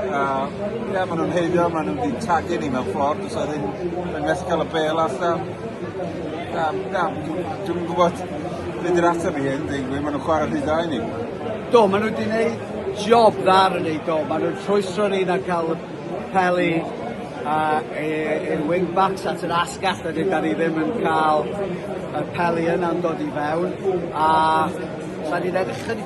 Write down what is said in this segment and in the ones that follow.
A ie ma' nw'n haeddu o ma' nw 'di tagu ni mewn ffordd do's 'a ddim yn well ca'l y bêl allan. Na na dw dwi'm yn gwbod be' 'di'r atab i hyn deud y gwir ma' nw'n chware rhy dda i ni. Do ma' nw 'di neud job dda ar y do ma' nw'n rhwystro ni na ca'l y pel i a e e wing backs at yr asgell a dydan ni ddim yn ca'l y pel i yna'n dod i fewn a sa'n i'n edrych chydig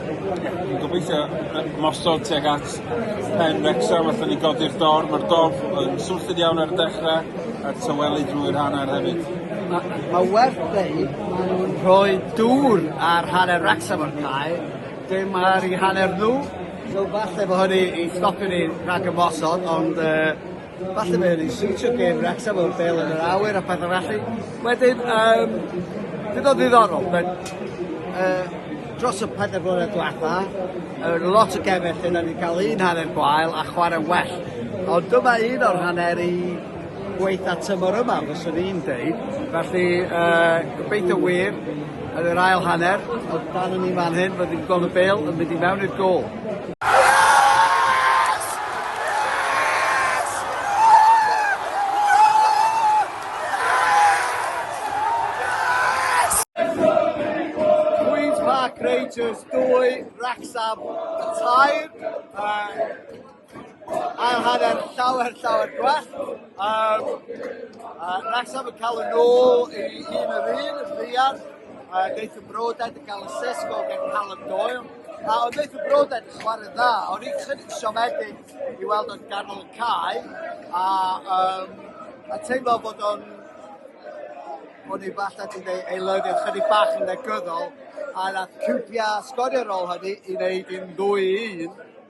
Dwi'n gobeithio mosod tuag at pen Wrecsam allan ni godi'r dorf. Mae'r dorf yn swnllyd iawn ar y dechrau a'r tyweli drwy'r hanner hefyd. Mae ma werth dweud, maen nhw'n rhoi dŵr ar hanner Wrecsam o'r cae, dim ar ei hanner nhw. So falle bod hynny i stopio ni rhag ymosod, ond uh, Falle mae hynny'n siwtio gêm Wrecsam o'r bel yn yr awyr a pethau felly. Wedyn, um, bydd o ddiddorol. Mae'n uh, dros y pedair blynedd diwetha, uh, lot o gemau lle da ni'n cael un hanner gwael a chwarae well. Ond dyma un o'r hanner i gweitha tymor yma, fyswn i'n dweud. Felly, uh, gobeithio wir, Yn yr ail hanner, o dan ni fan hyn, rydyn ni'n gweld y bêl yn mynd i mewn i'r gôl. Rangers 2, Wrecsam 3. ail hanner llawer, llawer gwell. Um, uh, Wrexham yn cael y nôl i un yr un, yn ddiar. Uh, Neith y Broded yn cael y sesgo gen Callum Doyle. A oedd Neith y Broded yn chwarae dda, o'n i'n chydig siomedig i weld o'n ganol y cae. A, um, a teimlo bod o'n o'n i falle wedi ei eilyddio chydig bach yn negyddol, a nath Cwpia sgorio rôl hynny i wneud i'n ddwy un,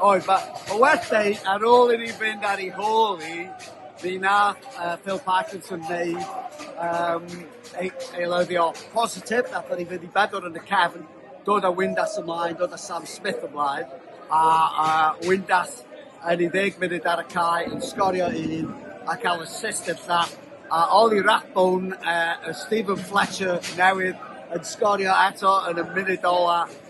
Oedd, mae ma well da i, ar ôl i ni fynd ar ei hôl hi, mi nath uh, Phil Parkinson wneud um, ei, ei lywio positif, nath ni fynd i bedwar yn y cefn, dod â Windass ymlaen, dod â Sam Smith ymlaen, a, a Windass yn ei ddeg munud ar y cae yn sgorio un a cael assist i'r llall, a Ollie Rathbone, uh, Stephen Fletcher newydd yn sgorio eto yn y munud ola,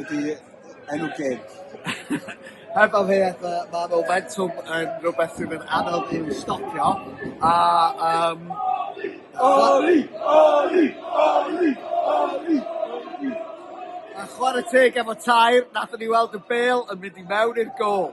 ydy enw geg. Heb amheuaeth ma' ma' momentum yn rwbeth sydd yn anodd i'w stopio a yym... Oli! Oli! Oli! Oli! Oli! A chware teg efo tair nathon ni weld y bêl yn mynd i mewn i'r gôl.